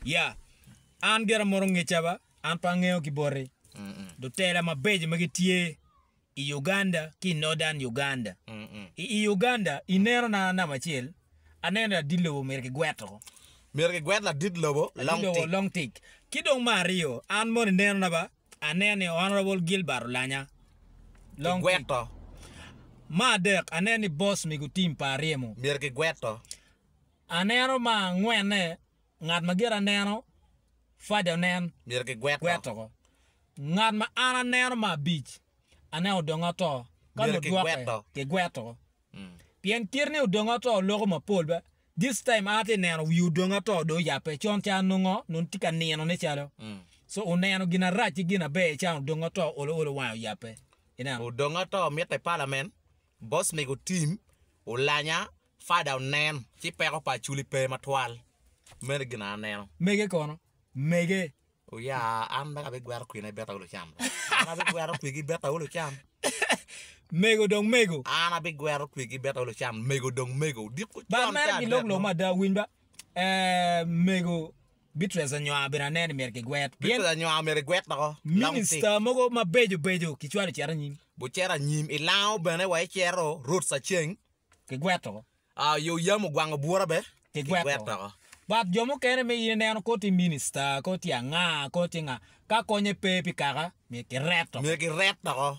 Ya, an gira moto ngeca ba, an pe angeyo ki boti. Lutela mabeco ma gitye i Uganda ki i Northern Uganda. I i Uganda, i neno na namba acel, aneno ni ladit lobo myero kigwet oko. Myero kigwet ladit lobo Ladit long lobo tik. long tik. Ki dong me aryo, an mono i neno na ba, aneno ni Honorable Gilbert Olanya long tik. Kigweto. Me adek, aneno ni Boss Migotim pa Aryemo. Myero kigweto. Aneno ma angwene, Ngat ma gire aneno, Fade onen, myero gigwet oko. Ngat ma an aneno ma abic, Aneno odonge oto, ka nongo dwoke, gigwet oko. Pien kit ni odonge oto loko mapol be, this time an atye neno wi odonge oto dong oyape, con ca nongo nongo tye ka nino ne calo, so oneno gin arac ki gin aber can odonge oto olo olo wange oyape. Ineno? Odonge oto mitte i parliament. Boss mego Tim olanya Fada onen ci peko pa Aculi pe matwal meno gin aneno. Mege kono mege. Oya an dong abigwero kwine beta olo cam dong. An abigwero kwigi beta olo cam. Mego dong mego. An abigwero kwigi beta olo cam mego dong mego. Odiko cwon Ba mere ki lok lok mada winy ba eh mego. Beatrice Anywar bene aneno ni myero kigwet. Beatrice Anywar omyero egwet loko. Minista mogo mabeco beco kicwalo ocito anyim. Bucero anyim, ilango bene wa icero, Ruth Saceng. Kigwet loko. Yo yam ogwango bura be. Kigwet loko. But jo mukene me in ineno kor tye minista, kor tye anga, kor tye nga, ka konye pe pi kaka myero kiret loko. Myero kiret loko.